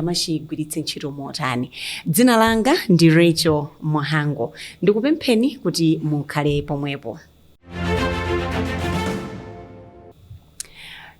amachigwiritse ntchito motani. Dzina langa ndi Rachel Mhango. Ndikupempheni kuti mukhale pomwepo.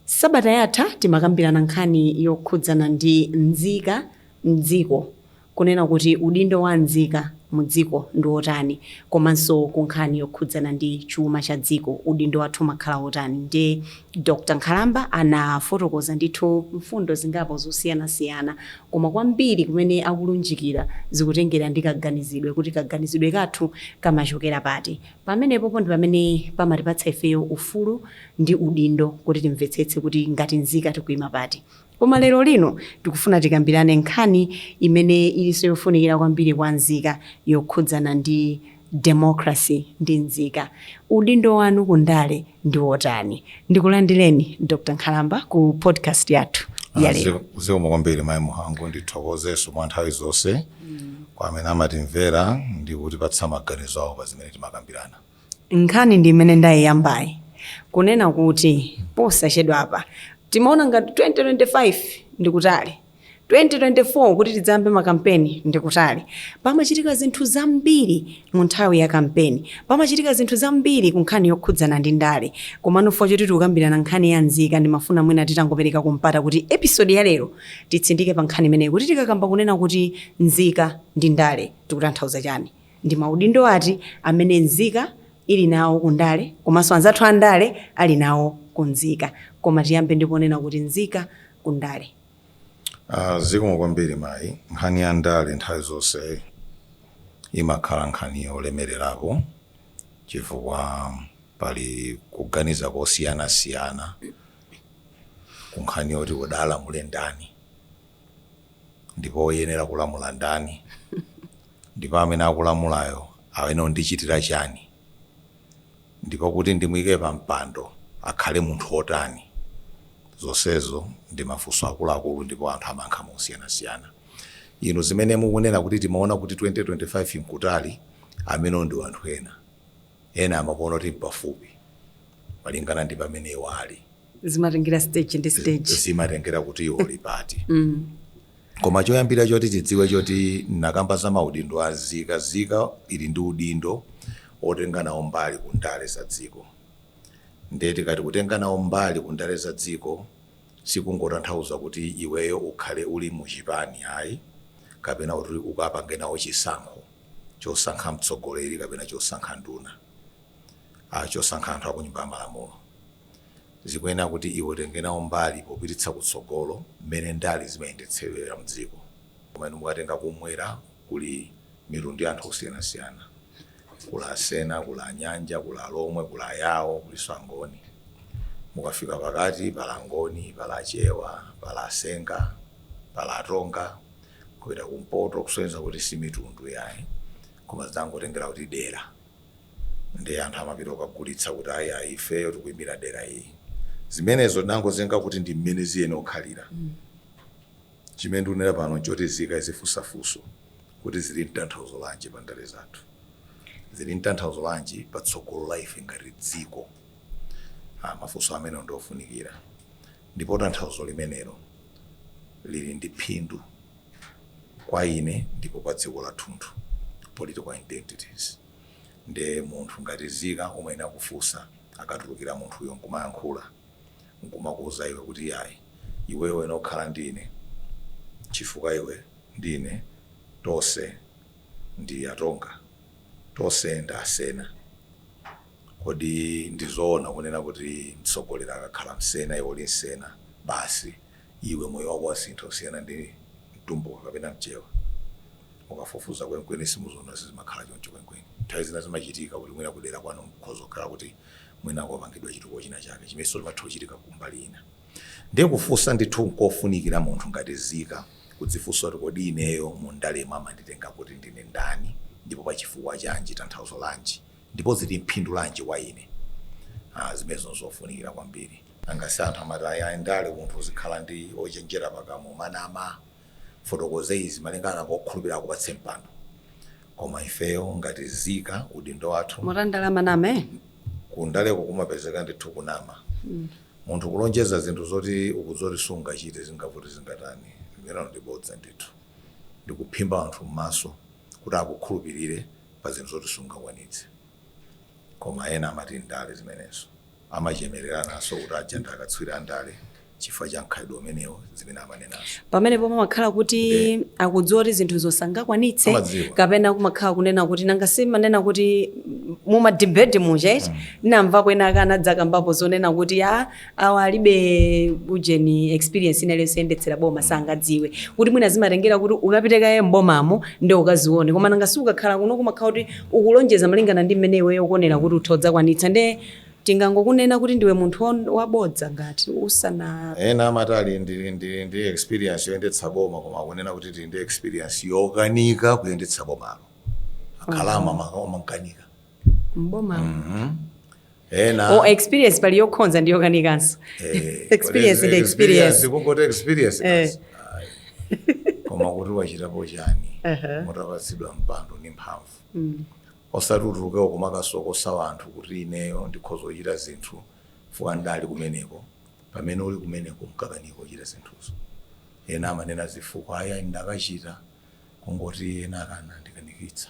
Sabata yatha timakambirana nkhani yokhudzana ndi nzika m'dziko, kunena kuti udindo wa nzika mu dziko ndi wotani, komanso ku nkhani yokhudzana ndi chuma cha dziko, udindo wathu umakhala wotani. Ndiye Dr. Nkhalamba anafotokoza ndithu mfundo zingapo zosiyanasiyana koma kwambiri kumene akulunjikira zikutengera ndi kaganizidwe kuti kaganizidwe kathu kamachokera pati. Pamenepopo ndi pamene pamatipatsa ifeyo ufulu ndi udindo kuti timvetsetse kuti ngati nzika tikuima pati. Koma lerolino tikufuna tikambirane nkhani imene ilinso yofunikira kwambiri kwa nzika, yokhudzana ndi democracy ndi nzika. Udindo wanu ku ndale ndi wotani? Ndikulandireni, Dr. Nkhalamba, ku podcast yathu ya lero. Zikomo kwambiri Mayi Mhango. Ndithokozenso mwa nthawi zonse kwa amene amatimvera ndi kutipatsa maganizo awo pa zimene timakambirana. Nkhani ndi imene ndaiyambayi kunena kuti posachedwa apa timaona ngati 2025 ndi kutali, 2024 kuti tidzayambe makampeni ndi kutali. Pamachitika zinthu zambiri mu nthawi ya kampeni, pamachitika zinthu zambiri ku nkhani yokhudzana ndi ndale. Komano chifukwa choti tikukambirana nkhani ya nzika, ndimafuna mwina titangoperekako mpata kuti episode ya lero titsindike pa nkhani imeneyi kuti tikakamba kunena kuti nzika ndi ndale tikutanthauza chani. Ndi maudindo ati amene nzika ili nawo ku ndale komanso anzathu a ndale ali nawo ku nzika? Koma tiyambe ndi ponena kuti nzika ku ndale. Zikomo kwambiri mayi. Nkhani ya ndale nthawi zonse imakhala nkhani yolemererapo chifukwa pali kuganiza kosiyanasiyana ku nkhani yoti kodi alamule ndani ndipo oyenera kulamula ndani. Ndipo amene akulamulayo ayenera kundichitira chani? Ndipo kuti ndimuike pa mpando, akhale munthu wotani? Zonsezo ndi mafunso akuluakulu ndipo anthu amayankha mosiyanasiyana. Inu zimene mukunena kuti timaona kuti 2025 n'kutali, amenewo ndi anthu ena. Ena amakuona kuti m'pafupi malingana ndi pamene iwo ali. zimatengera stage ndi stage zimatengera kuti uli pati koma choyambira choti tidziwe choti ndakamba za maudindo a nzika nzika ili ndi udindo otenga nawo mbali ku ndale za dziko ndiye tikati kutenga nawo mbali ku ndale za dziko sikungotanthauza kuti iweyo ukhale uli mu chipani ayi kapena kuti ukapange nawo chisankho chosankha mtsogoleri kapena chosankha nduna ah, chosankha anthu akunyumba ya malamulo zikuyenera kuti iwe utenge nawo mbali popititsa kutsogolo mmene ndale zimayendetsedwera mdziko. Koma inu mukatenga kumwera kuli mitundu ya anthu osiyanasiyana. Kuli Asena, kuli Anyanja, kuli Alomwe, kuli Ayawo, kulinso Angoni. Mukafika pakati pali Angoni, pali Achewa, pali Asenga, pali Atonga. Kupita kumpoto kusonyeza kuti si mitundu yayi koma zinangotengera kuti dera. ndiye anthu amapita kukagulitsa kuti ayi ayi ifeyo tikuimira dera ili zimenezo tinangozenga kuti ndi mmene ziyene kukhalira chimene ndikunena pano nchoti nzika izifunsa funso kuti zili mtanthauzo lanji pa ndale zathu zili mtanthauzo lanji pa tsogolo la ife ngati dziko ah, mafunso amenewo ndiofunikira ndipo tanthauzo limenelo lili ndi phindu kwa ine ndipo kwa dziko lathunthu political identities nde munthu ngati nzika umayenera kufunsa akatulukira munthuyo nkumayankhula nkumakuuza iwe kuti yayi iweyo uyenera kukhala ndi ine chifukwa iwe ndi ine tonse ndi atonga tonse ndi asena kodi ndizoona kunena kuti mtsogoleri akakhala msena iwe uli msena basi iwe moyo wako wasintha kusiyana ndi mtumbuka kapena mchewa mukafufuza kwenikweni simuziona sizimakhala choncho kwenikweni nthawi zina zimachitika kuti mwina kudera kwanu nkhoza kukhala kuti mwina kwapangidwa chitukuko china chake chimenenso chimatha kuchitika kumbali ina ndiye kufunsa ndithu nkofunikira munthu ngati nzika kuzifunsa kuti kodi ineyo mu ndalemo amanditenga kuti ndine ndani ndipo pa chifukwa chanji tanthauzo lanji ndipo zili mphindu lanji kwa ine ah, zimenezo nzofunikira kwambiri Nanga si anthu amati ayi ayi ndale munthu uzikhala ochenjera pakamwa kumanama ufotokoze izi malingana akukhulupirire akupatse mpando koma ifeyo ngati nzika udindo wathu Mu ndale amanama eh? kundaleko kumapezeka ndithu kunama munthu kulonjeza zinthu zoti ukudziwa kuti sungachite zingavute zingatani limenelo ndi bodza ndithu ndikuphimba anthu m'maso kuti akukhulupirire pa zinthu zoti sungakwanitse koma ena amati ndale zimenezo amachemereranso kuti aja ndi akatswiri andale chifukwa cha mkhalidwe umenewo zimene amanenazo. Pamenepo pamakhala kuti Nde. akudziwa kuti zinthuzo sangakwanitse Amadziwa. kapena kumakhala kunena kuti nanga simanena kuti mumadibeti muja ndinamvapo ena ake anadzakambapo zonena kuti a awa alibe ujeni experience ina iliyonse yoyendetsera boma sangadziwe kuti mwina zimatengera kuti ukapite kaye mbomamo ndi ukazione koma nanga si ukakhala kuno kumakhala kuti ukulonjeza malingana ndi mmene iweyo ukuonera kuti utha kudzakwanitsa nde tingangokunena kuti ndiwe munthu won- wabodza ngati usana ena amati ali ndi, ndi, ndi experience yoyendetsa boma koma akunena kuti tili ndi experience yokanika kuyendetsa bomalo akhala amakanika mboma ena experience pali yokhonza ndi yokanikanso eh, experience kodi ndi zi- experience. kungoti experience Eh. basi. Ayi. koma kuti wachitapo chani Aha. mutapatsidwa mpando ndi mphamvu Mm. osati utuluke ukumakasokosa wanthu kuti ineyo ndikhoza kuchita zinthu fuka ndali kumeneko pamene uli kumeneko nkukanika kuchita zinthuzo ena amanena zifukwa aya ndakachita kungoti ena akana ndikanikitsa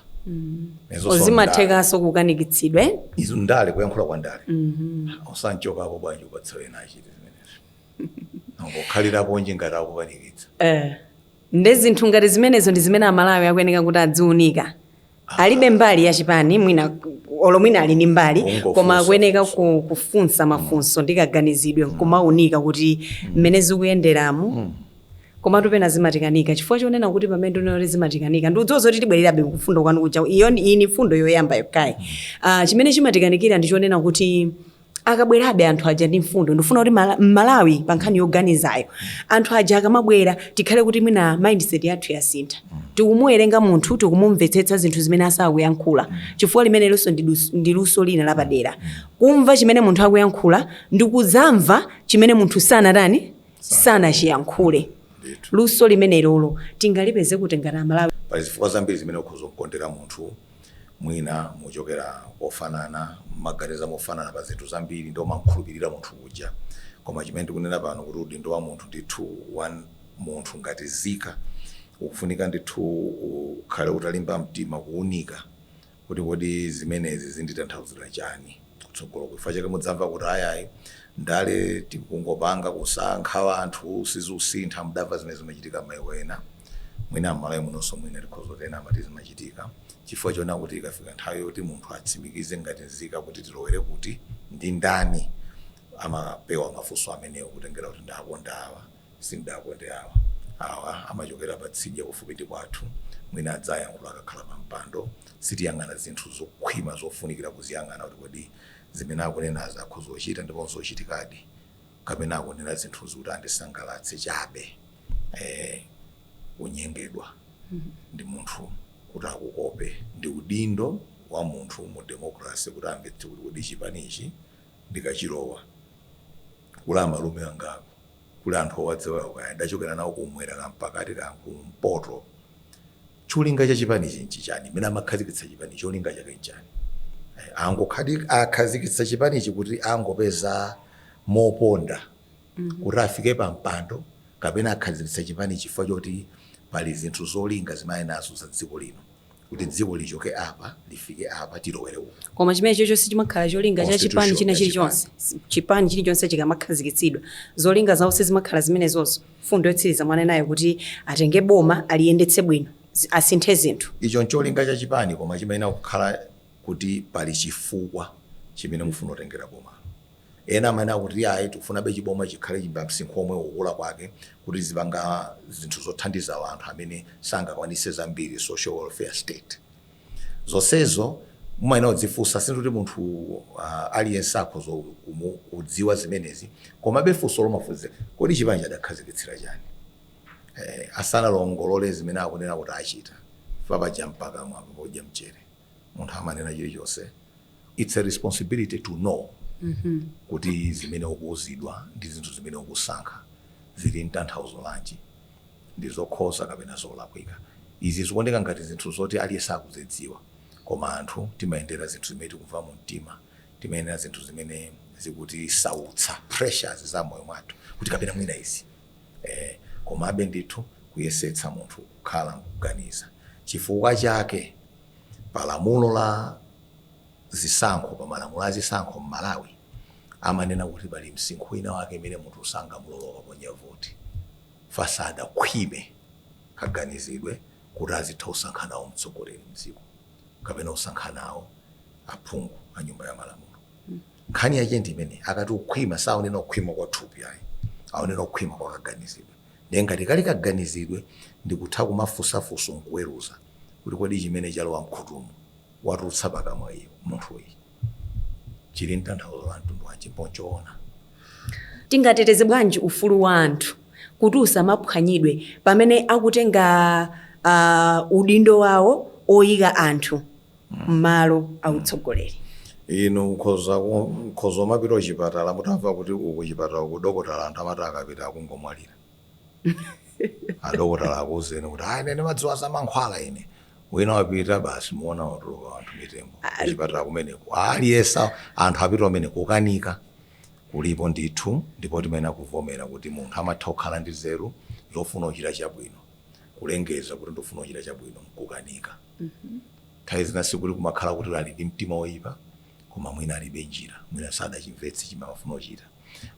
Izo zimathekanso kukanikitsidwa eh? ndale- izo ndale kuyankhula kwa ndale osanchokapo bwanji upatse ena achite zimenezo ungokhaliranji ngati akukanikitsa Eh. nde zinthu ngati zimenezo ndi zimene amalawi akuyeneka kuti adziunika alibe mbali ya chipani mwina olo mwina ali ndi mbali Kungofunsa. koma akuyeneka ku- kufunsa mafunso ndi kaganizidwe nkumaunika kuti mmene zikuyenderamu koma timapena zimatikanika chifukwa chonena kuti pamene ndinati zimatikanika ndi udziwa zoti tibwererabe ku funso lanu lija iyo ndi- iyi ni mfundo yoyamba yokayi Ah, chimene chimatikanikira ndi chonena kuti akabwerabe anthu aja ndi mfundo ndifuna kuti Mala- mmalawi pa nkhani yoganizayo anthu aja akamabwera tikhale kuti mwina mindset yathu yasintha tikumuwerenga munthu tikumumvetsetsa zinthu zimene sakuyankhula chifukwa limenelonso ndi dus- ndi luso lina lapadera kumva chimene munthu akuyankhula ndi kudzamva chimene munthu sanatani sanachiyankhule luso limenelo tingalipeze kuti ngati amalawi pali zifukwa zambiri zimene ukhoza kukondera munthu mwina muchokera kofanana mmaganiza mofanana pa zinthu zambiri nde umamkhulupirira munthu uja koma chimene ndikunena pano kuti udindo wa munthu ndithu wa munthu ngati nzika ukufunika ndithu ukhale utalimba mtima kuunika kuti kodi zimenezi zinditanthauzira chani kutsogolo chifukwa chake mudzamva kuti ayayi ndale tikungopanga kusankha anthu sizikusintha mudamva zimene zimachitika maiko ena mwina mMalawi munonso mwina tikhoza kuti ena amati zimachitika chifukwa chonena kuti ikafika nthawi yoti munthu atsimikize ngati nzika kuti tilowere kuti ndi ndani amapewa mafunso amenewo kutengera kuti ndakonda awa Sindidakonde awa. Awa amachokera patsidya kufupi ndi kwathu. Mwina adzayankhula akakhala pampando. Sitiyang'ana zinthu zokhwima zofunikira kuziyang'ana kuti kodi zimene akunenazi akhoza kuchita ndipo n'zochitikadi kapena akunena zinthuzi kuti andisangalatse chabe. Eh, kunyengedwa ndi munthu kuti akukope ndi udindo wa munthu mu democracy kuti amvetse kuti kodi chipanichi ndikachilowa kuli amalume angapo kuli anthu owadziwa kaya ndachokera nawo kumwera ka mpakati ka kumpoto cholinga cha chipanichi nchichani mmene amakhazikitsa chipani cholinga chake nchani Eh, akhazikitsa chipanichi kuti angopeza moponda kuti afike pa mpando kapena akhazikitsa chipani chifukwa choti pali zinthu zolinga zimene ali nazo za dziko lino kuti dziko lichoke apa lifike apa tilowere umu. Koma chimenecho sichimakhala cholinga cha chipani china chilichonse. Chipani chilichonse chikamakhazikitsidwa, zolinga zawo sizimakhala zimenezozo. Mfundo yotsiliza mwanenayo kuti atenge boma aliyendetse bwino, asinthe zinthu. Icho ncholinga cha chipani koma chimayenera kukhala kuti pali chifukwa chimene mufuna kutengera bomalo. Ena amanena kuti ayi tikufunabe chiboma chikhale chamsinkhu womwe ukukula kwake kuti chizipanga zinthu zothandiza anthu amene sangakwanise zambiri, social welfare state. Zonsezo mumayenera kudzifunsa sindiye kuti munthu aliyense akhoza kudziwa zimenezi komabe funso lomafunsa kodi chipanichi adakhazikitsira chani asanalongolole zimene akunena kuti achita chifukwa paja mpakamwa apa podya mchere munthu amanena chilichonse. its a responsibility to know kuti zimene ukuuzidwa ndi zinthu zimene ukusankha zili ntanthauzo lanji ndi zokhoza kapena zolakwika izi zikuoneka ngati zinthu zoti aliyense akuzidziwa koma anthu timayendera zinthu zimene tikumva mu mtima timayendera zinthu zimene zikutisautsa pressures za moyo mwathu kuti kapena mwina izi eh, komabe ndithu kuyesetsa munthu kukhala nkuganiza chifukwa chake pa lamulo la zisankho, pa malamulo a zisankho m'Malawi amanena kuti pali msinkhu wina wake imene munthu sangamulole kukaponya voti chifukwa sadakhwime kaganizidwe kuti azitha usankha nawo mtsogoleri mdziko kapena usankha nawo aphungu a nyumba ya malamulo. Nkhani yache ndi imene akati ukhwima saonena ukhwima kwa thupi ayi, aonena ukhwima kwa kaganizidwe. Ndiye ngati kali kaganizidwe ndikutha kumafunsa funso nkuweruza kuti kodi chimene chalowa mkhutumu watulutsa pakamwa uyu munthuyi chili ntanthauzo la mtundu wanji mpo nchoona. Tingateteze bwanji ufulu wa anthu kuti usamaphwanyidwe pamene akutenga uh, udindo wawo oyika anthu m'malo a utsogoleri. Inu mukhoza umapita kuchipatala mutamva kuti uku chipatala uku dokotala anthu amati akapita akungomwalira. Adokotala akuuzeni kuti ayi ine ndimadziwa za mankhwala ine. Wina wapita basi muona watuluka anthu mitembo Ah, kuchipatala kumeneko. Aliyense anthu apita kumeneko kukanika kulipo ndithu ndipo timayenera kuvomera kuti munthu amatha kukhala ndi nzeru zofuna kuchita chabwino. Kulengeza kuti ndikufuna kuchita chabwino n'kukanika. Nthawi zina sikuti kumakhala kuti ali ndi mtima woipa, koma mwina alibe njira, mwina sadachimvetse chimene amafuna kuchita.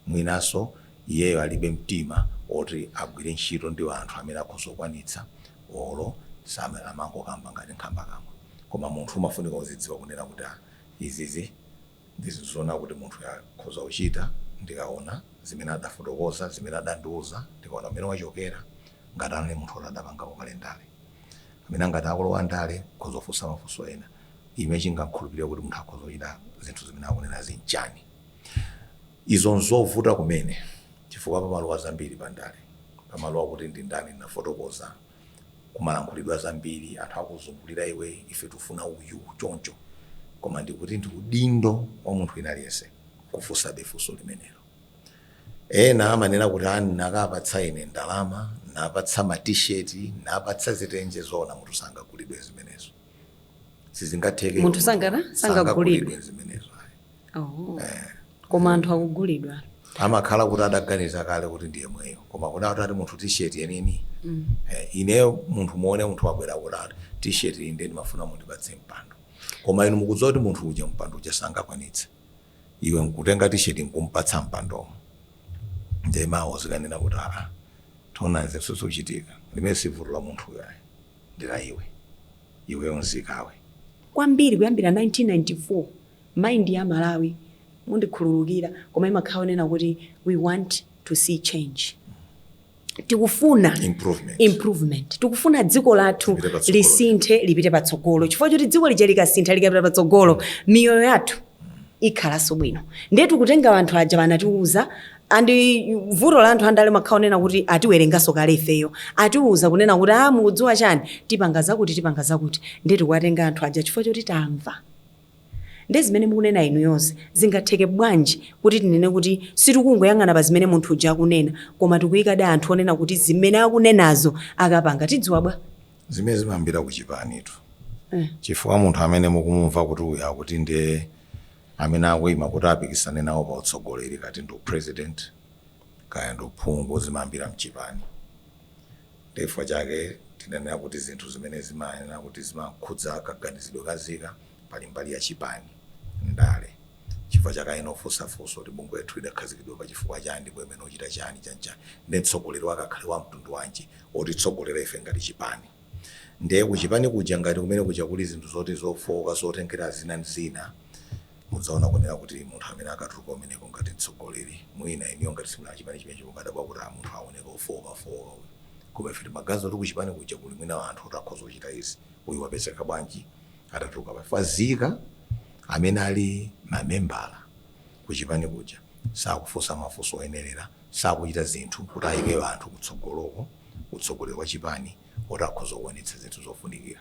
Mwinanso iyeyo alibe mtima woti agwire ntchito ndi anthu amene akhoza kukwanitsa olo amene amangokamba ngati nkhambakamwa. Koma munthu umafunika uzidziwa kunena kuti, ah, izizi. Ndi zizaona kuti munthuyo akhoza kuchita ndikaona zimene adafotokoza, zimene adandiuza, ndikaona kumene wachokera, ngati anali munthu woti adapangako kale ndale, kapena ngati akulowa ndale, akhoza kufunsa mafunso ena. Chimene chingakhulupirire kuti munthu akhoza kuchita zinthu zimene akunenazi nchani? Izo nzovuta kumene chifukwa pamalowa zambiri pandale. Pamalowa kuti ndi ndani, ndinafotokoza. kumalankhulidwa zambiri anthu akuzungulira iwe ife tufuna uyu choncho koma ndikuti ndi udindo wa munthu wina aliyense kufunsabe funso limenelo ena amanena kuti aa nakapatsa ine ndalama napatsa ma t-shirt napatsa zitenje zoona munthu sangagulidwe zimenezo sizingatheke Munthu sangana- sangagulidwe. zimenezo Oh. koma anthu akugulidwa amakhala kuti adaganiza kale kuti ndi yemweyo koma kuti atati munthu t-shirt yenini eh, ineyo munthu muone munthu wabwera kuti ati t-shirt iyi ndiye ndimafuna mundipatse mpando koma inu mukudziwa kuti munthu uja mpando uja sangakwanitse iwe nkutenga t-shirt nkumpatsa mpandomo ndiye mawo uzikanena kuti aa taonani zochitika limene sivuto la munthuyo ayi ndila iwe nzikawe kwambiri kuyambira 1994 Mind ya Amalawi mundikhululukira koma imakhala yonena kuti we want to see change. Tikufuna improvement. Tikufuna dziko lathu lisinthe lipite patsogolo chifukwa choti dziko lija likasintha likapita patsogolo miyoyo yathu ikhalanso bwino ndiye tikutenga anthu aja anatiuza and vuto la anthu andale amakhala onena kuti atiwerenganso kale ifeyo atiuza kunena kuti a mukudziwa chani tipanga zakuti tipanga zakuti ndiye tikuwatenga anthu aja chifukwa choti tamva Nde zimene mukunena inuyozi zingatheke bwanji kuti tinene kuti sitikungoyang'ana pa zimene munthu uja akunena koma tikuyikadi anthu onena kuti zimene akunenazo akapanga tidziwa bwa? Zimene zimayambira ku chipanitu chifukwa munthu amene mukumumva kuti uyu akuti nde amene akuima kuti apikisane nawo pa utsogoleri kaya ndi u president kaya ndi uphungu zimayambira mchipani. Ndiye chifukwa chake tinenera kuti zinthu zimene zimayenera kuti zimakhudza kaganizidwe ka nzika, pali mbali ya chipani, ndale, chifukwa choti akayenera kufunsa funso kuti bungwe lathu lidakhazikitsidwa pa chifukwa chani ndipo liyenera kuchita chani, chani chani, ndiye mtsogoleri wake akhale wa mtundu wanji otitsogolera ife ngati chipani. Ndiye kuchipani kuja ngati kumene kuja kuli zinthu zoti zofooka zotengera zina ndi zina, Mudzaona kunena kuti munthu amene akatuluka kumeneko ngati mtsogoleri mwina inuyo ngati simuli achipani chimenecho mumadabwa kuti a munthu akuoneka ofookafooka uyu koma ife timaganiza kuti kuchipani kuja kuli mwina anthu oti akhoza kuchita izi uyu wapezeka bwanji atatuluka pa chifukwa nzika amene ali mamembala kuchipani kuja sakufunsa mafunso oyenerera sakuchita zinthu kuti ayike anthu kutsogoloko ku utsogoleri wa chipani oti akhoza kuwonetsa zinthu zofunikira.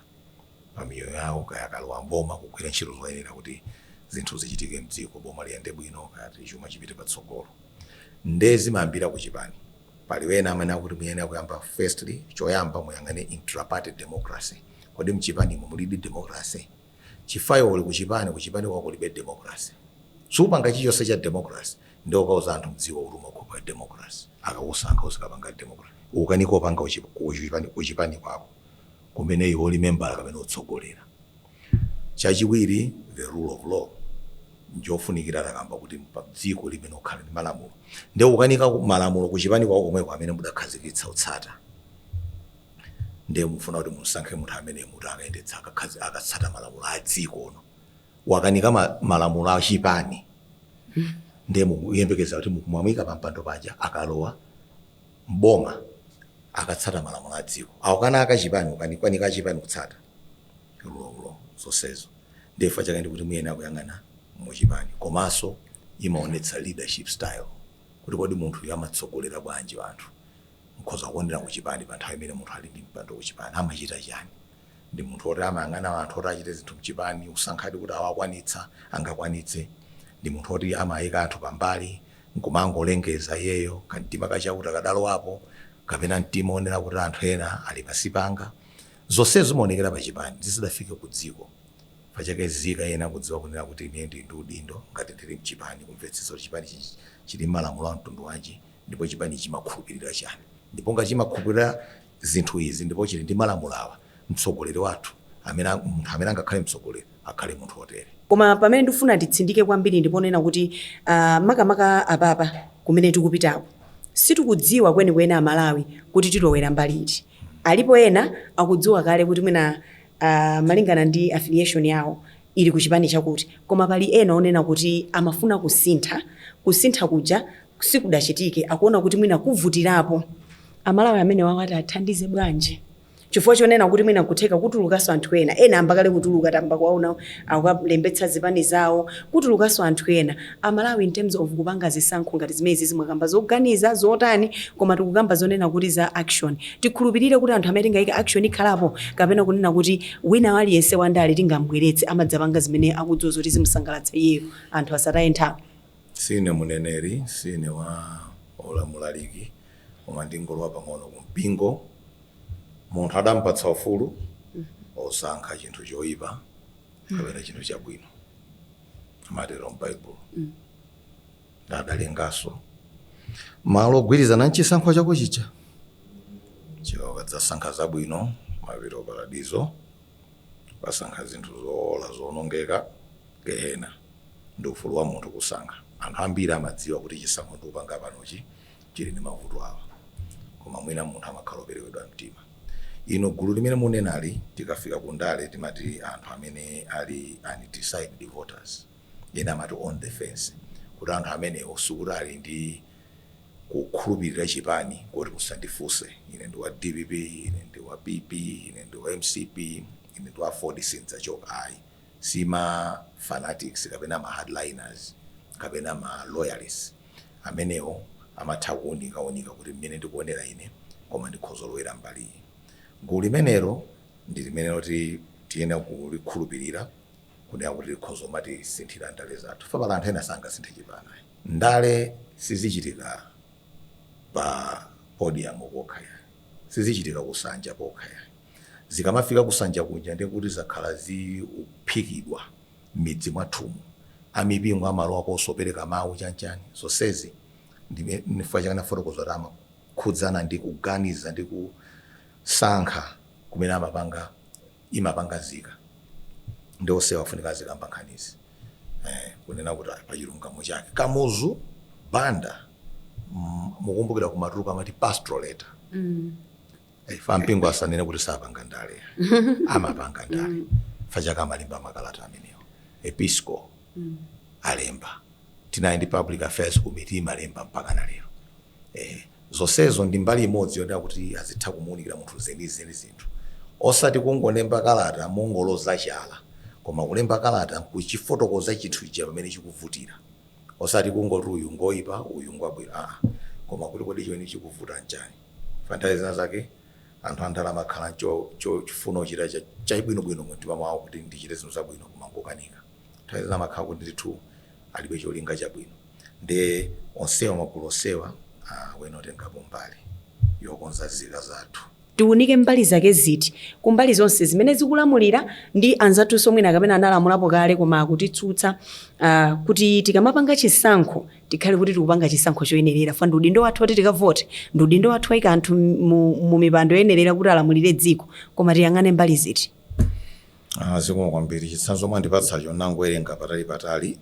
pa miyoyo yawo kaya akalowa m'boma kugwira ntchito zoyenera kuti zinthu zichitike mdziko boma liyende bwino kaya kuti chuma chipite patsogolo nde zimayambira ku chipani pali wena amene akuti muyenera kuyamba firstly choyamba muyang'ane intraparty democracy kodi mchipanimo mulidi democracy chifukwa iwe uli kuchipani kuchipani kwako kulibe democracy sukupanga chilichonse cha democracy nde ukauza anthu mdziko kuti umakhulupirira democracy akakusankha uzikapanga democracy ukukanika kupanga uchi- kuchipani kuchipani kwako kumene iwe uli membala kapena ukutsogolera. Chachiwiri, the rule of law njofunikira takamba kuti pa dziko limene likhala ndi malamulo nde ukukanika malamulo ku chipani kwako komweko amene mudakhazikitsa kutsata nde mufuna kuti musankhe munthu amene muti akayendetsa akatsata malamulo a dziko uno wakanika ma, malamulo a chipani nde muyembekeza kuti mukamuika pa mpando paja akalowa m'boma akatsata malamulo a dziko akukanika a chipani akukanika a chipani kutsata rule of law zonsezo ndiye chifukwa chake ndikuti muyenera kuyang'ana mu chipani komanso imaonetsa leadership style kuti kodi munthu uyu amatsogolera bwanji anthu mkhoza kuonera ku chipani pa nthawi imene munthu ali ndi mpando ku chipani amachita chani ndi munthu oti amayang'ana anthu oti achite zinthu mchipani kusankhadi kuti awakwanitsa angakwanitse ndi munthu oti amayika anthu pambali nkumangolengeza iyeyo kamtima kachakuti kadalowapo kapena mtima onera kuti anthu ena ali pansi panga. Zonsezo zimaonekera pa chipani zisadafike ku dziko. Chifukwa chake nzika iyenera kudziwa kunena kuti ineyo ndili ndi udindo ngati ndili mchipani kumvetsetsa kuti chipanichi chili mmalamulo a mtundu wanji ndipo chipanichi chimakhulupirira chani ndipo ngati chimakhulupirira zinthu izi ndipo chili ndi malamulo awa, mtsogoleri wathu, amene, munthu amene angakhale mtsogoleri akhale munthu wotere. Koma pamene ndikufuna nditsindike kwambiri ndi ponena kuti uh, makamaka apapa kumene tikupitako sitikudziwa kwenikweni Amalawi kuti tilowera mbali iti. Alipo ena akudziwa kale kuti mwina uh, malingana ndi affiliation yawo ili ku chipani chakuti, koma pali ena onena kuti amafuna kusintha, kusintha kuja sikudachitike akuona kuti mwina kuvutikirapo amalawi amenewawa tiathandize bwanji chifukwa chonena kuti mwina kutheka kutulukanso anthu ena ena ayamba kale kutuluka tayamba kuwaona akulembetsa zipani zawo kutulukanso anthu ena amalawi in terms of kupanga zisankho ngati zimenezi zimene mwakamba zoganiza zotani koma tikukamba zonena kuti za action tikhulupirire kuti anthu amene tingayike action ikhalapo kapena kunena kuti wina aliyense wandale tingambweretse amadzapanga zimene akudziwa zoti zimsangalatsa iyeyo anthu asataye nthawi Siine muneneri, siine wa olo mulaliki, koma ndingolowa pang'ono ku mpingo. Munthu adampatsa ufulu osankha chinthu choipa kapena chinthu chabwino, amatero m'Baibulo. Nde adalenganso malo ogwirizana n'chisankho chako chija. Chifukwa ukadzasankha zabwino, umapita ku Paradizo. wasankha zinthu zoola zoonongeka, Gehena. Ndi ufulu wa munthu kusankha. Anthu ambiri amadziwa kuti chisankho ndikupanga panochi chili ndi mavuto awa, koma mwina munthu amakhala operewera mtima. Ino gulu limene munenali, tikafika ku ndale timati anthu amene ali undecided voters, ena amati on the fence, kuti anthu amenewo sikuti ali ndi. kukhulupirira chipani koti musandifunse ine ndi wa dpp ine ndi wa PP ine ndi wa mcp ine ndi wa aford sindzachoka ayi si ma fanatics kapena ma hardliners kapena ma loyalists amenewo amatha kuunika unika kuti mmene ndikuonera ine koma ndikhozolowera mbali iyi gulu limenelo ndi limenelo loti tiyenera kulikhulupirira kunena kuti likhoza kumatisinthira ndale zathu fa pali anthu ena sangasinthe chipani ayi ndale sizichitika pa podium pokha ayi sizichitika kunsanja kokha ayi zikamafika kunsanja kuja ndiye kuti zakhala zikuphikidwa m'midzi mwathumu amipingo amalowa kosopereka mawu chanchani zonsezi ndime- nifukwa chake nafotokoza kuti amakhudzana ndi kuganiza ndi kusankha kumene amapanga imapanga nzika nde onsewa afunika azikamba nkhanizi eh, kunena kuti ah, pachilungamo chake kamuzu banda mm, mukumbukira kumatuluka amati pastoral letter mm. Eh, fa ampingo asanene kuti sapanga ndale amapanga ndale fa chaka amalemba makalata amenewo Episcopal alemba tinali ndi public affairs committee imalemba mpaka na lero Ehe. Zonsezo ndi mbali imodzi yonena kuti azitha kumuunikira munthu zenizeni zinthu. Osati kungolemba kalata mongoloza chala, koma kulemba kalata n'kuchifotokoza chinthu chija pamene chikuvutira. Osati kungoti uyu ngoipa, uyu ngwabwino aa, koma kuti kodi chimene chikuvuta n'chani. Chifukwa nthawi zina zake anthu andale amakhala n'cho, cho, chifuna kuchita cha, chabwinobwino mumtima mwawo kuti ndichite zinthu zabwino koma n'kukanika. Nthawi zina amakhala kuti ndithu alibe cholinga chabwino nde onsewa magulu onsewa ayenera kutengapo mbali yokonza nzika zathu. Tiwunike mbali zake ziti? Kumbali zonse zimene zikulamulira ndi anzathunso mwina kapena analamulapo kale koma akutsutsa uh, kuti tikamapanga chisankho tikhale kuti tikupanga chisankho choyenerera fa ndi udindo wathu woti tikavote ndi udindo wathu kuwaika anthu mu, mu mipando yoyenerera kuti alamulire dziko koma tiyang'ane mbali ziti? Aaa zikomo kwambiri chitsanzo mwandipatsacho nnangowerenga patali patali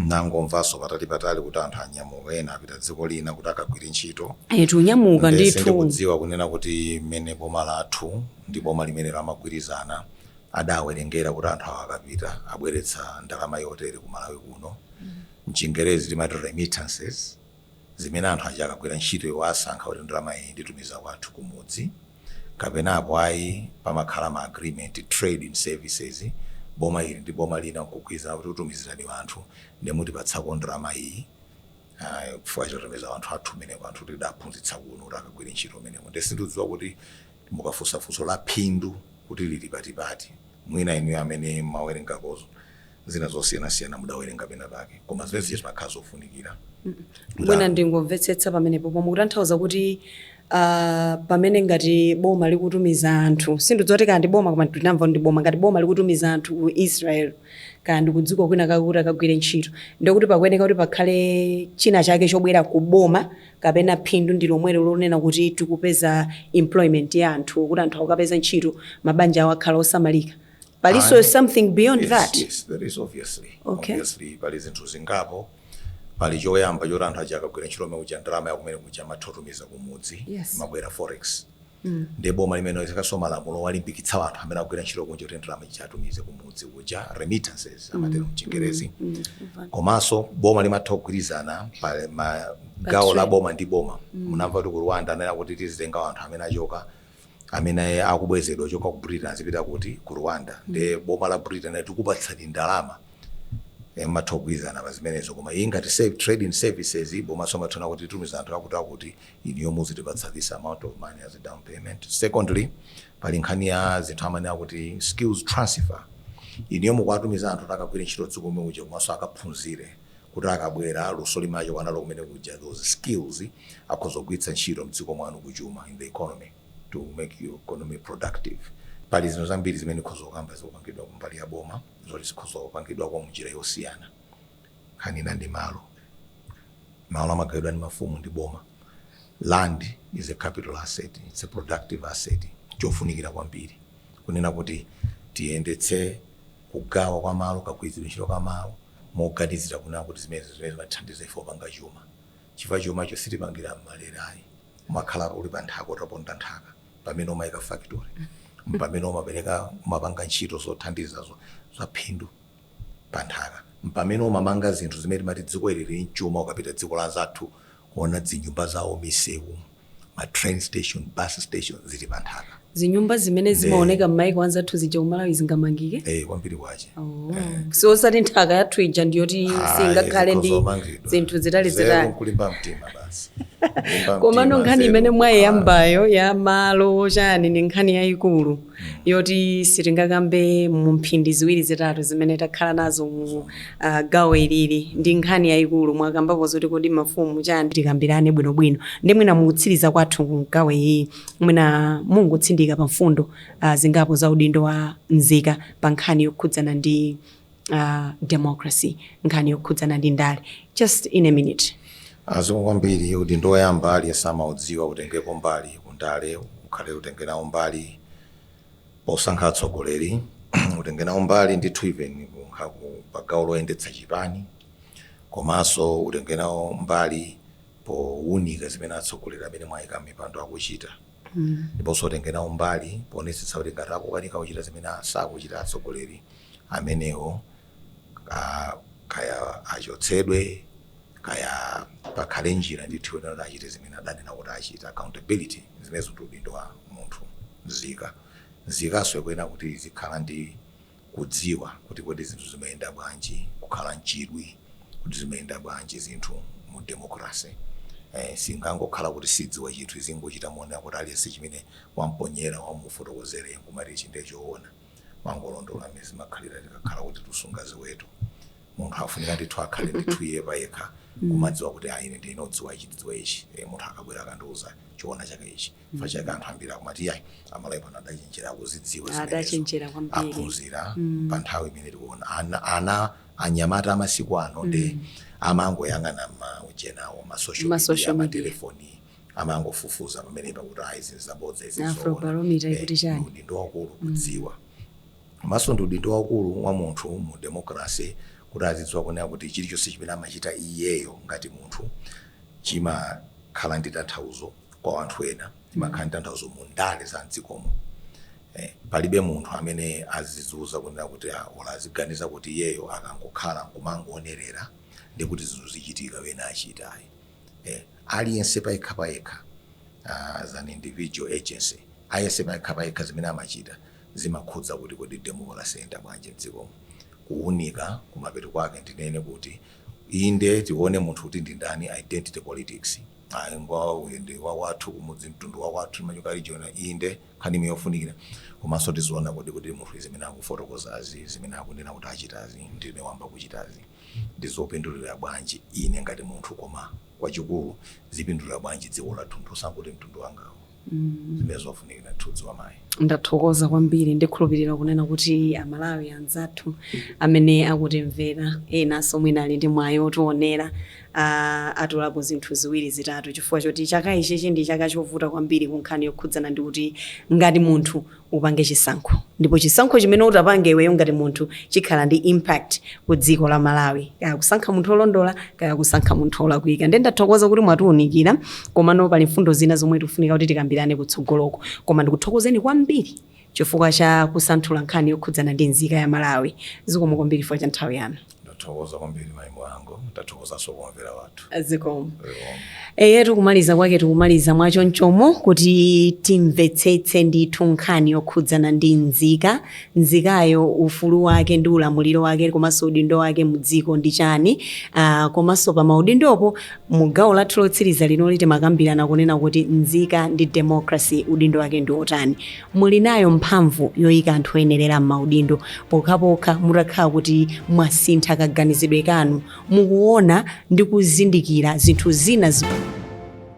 nnangomvanso patali patali kuti anthu anyamuka ena apita dziko lina kuti akagwire ntchito Eetu anyamuka nde ndithu. sindikudziwa kunena kuti mmene boma lathu ndi boma limenelo amagwirizana adawerengera kuti anthu awa akapita abweretsa ndalama yotere ku Malawi kuno mchingerezi timati remittances zimene anthu aja akagwira ntchito iwo asankha kuti ndalama iyi nditumiza kwathu kumudzi kapena apo ayi pamakhala ma agreement trade in services boma ili ndi boma lina nkugwirizana kuti tikutumizirani wanthu nde mutipatsako ndalama iyi ah, chifukwa chotumiza wanthu athu kumeneko anthu tidaphunzitsa kuno kuti akagwire ntchito kumeneko nde sindidziwa kuti mukafunsa funso la phindu kuti lili pati pati mwina inuyo amene mumawerengako zina zosiyanasiyana mudawerenga pena pake koma zimene zija zimakhala zofunikira mwina ndingomvetsetsa pamenepo pomwe mukutanthauza kuti ah, pamene ngati boma likutumiza anthu sindidziwa kuti kaya ndi boma koma tinamva ndi boma ngati boma likutumiza anthu ku israel kaya ndi kudziko kwinakwake kuti akagwire ntchito ndikuti pakuyeneka kuti pakhale china chake chobwera ku boma kapena phindu ndi lomwelo lonena kuti tikupeza employment ya anthu kuti anthu akukapeza ntchito mabanja awo akhala osamalika palinso Ayi. something beyond Yes, that yes, there is obviously. Okay. Obviously, pali zinthu zingapo pali choyamba choti anthu aja akagwira ntchito komwe kuja ndalama ya kumene kuja amatha kutumiza kumudzi Yes. imabwera forex ndi boma limene limaikanso malamulo owalimbikitsa anthu amene akugwira ntchito kunja kuti ndalama ija atumize kumudzi kuja remittances amatero mchingerezi komanso boma limatha kugwirizana pa ma- gawo la trade. boma ndi boma munamva kuti ku rwanda anena kuti tizitenga anthu amene achoka amene akubwezedwa kuchoka ku Britain azipita kuti? Ku Rwanda. Nde boma la Britain linati tikupatsani ndalama eh, mumatha kugwirizana pa zimenezo koma iyi ngati save trade in services iyi bomanso limatha kunena kuti titumiza anthu akuti akuti inuyo muzitipatsa this amount of money as a down payment secondly pali nkhani ya zinthu zimene akuti skills transfer inuyo mukuwatumiza anthu kuti akagwire ntchito dziko lomwe kuja komanso akaphunzire kuti akabwera luso limene achoka nalo kumene kuja those skills akhoza kugwiritsa ntchito mdziko mwanu ku chuma in the economy to make your economy productive pali zinthu zambiri zimene tikhoza kukamba zikupangidwa kumbali ya boma zoti zikhoza kupangidwa koma munjira yosiyana nkhani ina ndi malo malo amagawidwa ndi mafumu ndi boma land is a capital asset it's a productive asset chofunikira kwambiri kunena kuti tiyendetse Kugawa kwa malo, kagwiritsidwe ntchito ka malo moganizira kunena kuti zimenezi ndi zimene zimatithandiza ife kupanga chuma chifukwa chumacho sitimapangira m'malere ayi. Umakhala uli pa nthaka utaponda nthaka mpamene umayika factory, mpamene umapereka, umapanga ntchito zothandiza za phindu pa nthaka, mpamene umamanga zinthu zimene timati dziko ili lili mchuma ukapita dziko la anzathu kuona zinyumba zawo, misewu. ma train station, bus station zili pa nthaka. zinyumba zimene zimaoneka m'maiko anzathu zija kumalawi zingamangike Eh, kwambiri kwache. Oh. si osati nthaka yathu ija ndiyoti singakhale ndi zinthu zitali zitali kulimba mtima basi. Kulimba mtima, komano nkhani imene mwayiyambayo ya malo chani ndi nkhani yayikulu yoti sitingakambe mu mphindi ziwiri zitatu zimene takhala nazo mu uh, gawo ili, ili ndi nkhani yayikulu mwakambapo zoti kodi mafumu chani tikambirane bwinobwino ndi mwina mukutsiriza kwathu mu gawo ili mwina mungotsindika pa mfundo uh, zingapo za udindo wa mzika pa nkhani yokhudzana ndi uh, democracy nkhani yokhudzana ndi ndale just in a minute nzika kwambiri udindo woyamba aliyense amaudziwa utengepo mbali kundale ukhale utenge nawo mbali posankha atsogoleri utenge nawo mbali ndithu even kunkha ku pagawo loyendetsa chipani komanso utenge nawo mbali powunika zimene atsogoleri amene mwayika mipando akuchita ndiponso utenge nawo mbali poonetsetsa kuti ngati akukanika kuchita zimene sakuchita atsogoleri amenewo kaya achotsedwe kaya pakhale njira ndithu yonena kuti achite zimene adanena kuti achita, accountability. Zimenezo ndi udindo wa munthu, nzika. Nzikanso ikuyenera kuti izikhala ndi kudziwa kuti kodi zinthu zimayenda bwanji, kukhala n'chidwi kuti zimayenda bwanji zinthu mu democracy. Eh, singangokhala kuti sidziwa chinthu izingochita monena kuti aliyense chimene wamponyera wamufotokozera iye nkumati ichi ndiye choona. Mongolondola mmene zimakhalira tikakhala kuti tikusunga ziweto. Munthu afunika ndithu akhale ndithu iye payekha kumadziwa kuti ayi ine ndine odziwa ichi ndidziwa ichi. Eh, munthu akabwera akandiuza choona chake ichi. chifukwa chake anthu ambiri akumati yayi amalawi pano adachenjera akuzidziwa zimenezo adachenjera kwambiri aphunzira Mm. pa nthawi imene tikuona ana, ana anyamata amasiku ano nde amangoyang'ana maujenawo masocial Ma media social media. amatelefoni amangofufuza pomwepo kuti ayi zinthu zabodza izi zoona afrobarometer ikuti chani ndi udindo wakulu kudziwa komanso ndi udindo wakulu wa munthu mu democracy kuti azidziwa kunena kuti chilichonse chimene amachita iyeyo ngati munthu chimakhala ndi tanthauzo kwa wanthu ena chimakhala ndi tanthauzo mu ndale za mdzikomo eh, palibe munthu amene azizuza kunena kuti ah, ola aziganiza kuti iyeyo akangokhala nkumangoonerera ndi kuti zinthu zichitika wena achita ayi eh, aliyense payekha payekha ah, as an individual agency aliyense payekha payekha zimene amachita zimakhudza kuti kodi democracy yenda bwanji mdzikomo kuunika kumapeto kwake ndinene kuti inde tione munthu kuti ndi ndani identity politics Ayi ngwawo uyu ndi wawathu kumudzi mtundu wawathu timachokera region inde nkhani imeneyo yofunikira komanso tiziona kodi kuti munthuyu zimene akufotokozazi zimene akunena kuti achitazi ndi zimene wayamba kuchitazi ndi zopindulira bwanji ine ngati munthu koma kwachikulu zipindulira bwanji dziko lathu osangoti mtundu wangawu. zimenezo zofunikira kudziwa mayi ndathokoza kwambiri ndikhulupirira kunena kuti amalawi anzathu amene akutimvera enanso mwina ali ndi mwayi otionera ah, atolapo zinthu ziwiri zitatu chifukwa choti chaka ichichi ndi chaka chovuta kwambiri ku nkhani yokhudzana ndi kuti ngati munthu upange chisankho ndipo chisankho chimene utapange iweyo ngati munthu chikhala ndi impact ku dziko la Malawi kaya kusankha munthu olondola kaya kusankha munthu olakwika ndiye ndathokoza kuti mwatiunikira komano pali mfundo zina zomwe tifunika kuti tikambirane kutsogoloko koma ndikuthokozeni kwambiri chifukwa cha kusanthula nkhani yokhudzana ndi nzika ya Malawi zikomo kwambiri chifukwa cha nthawi yanu Ndathokoza kwambiri mai Mhango, ndathokozanso kwa omvera athu. Zikomo. Eyetu tikumaliza kwake tikumaliza mwachonchomo kuti timvetsetse ndithu nkhani yokhudzana ndi nzika. Nzikayo ufulu wake ndi ulamuliro wake komanso udindo wake mu dziko ndi chani. Uh, komanso pa maudindopo mu gawo lathu lotsiriza linoli timakambirana kunena kuti nzika ndi democracy udindo wake ndi otani. Muli nayo mphamvu yoika anthu oyenerera m'maudindo pokhapokha mutakhala kuti mwasintha kaganizidwe kanu, mukuona ndi kuzindikira zinthu zina zimene.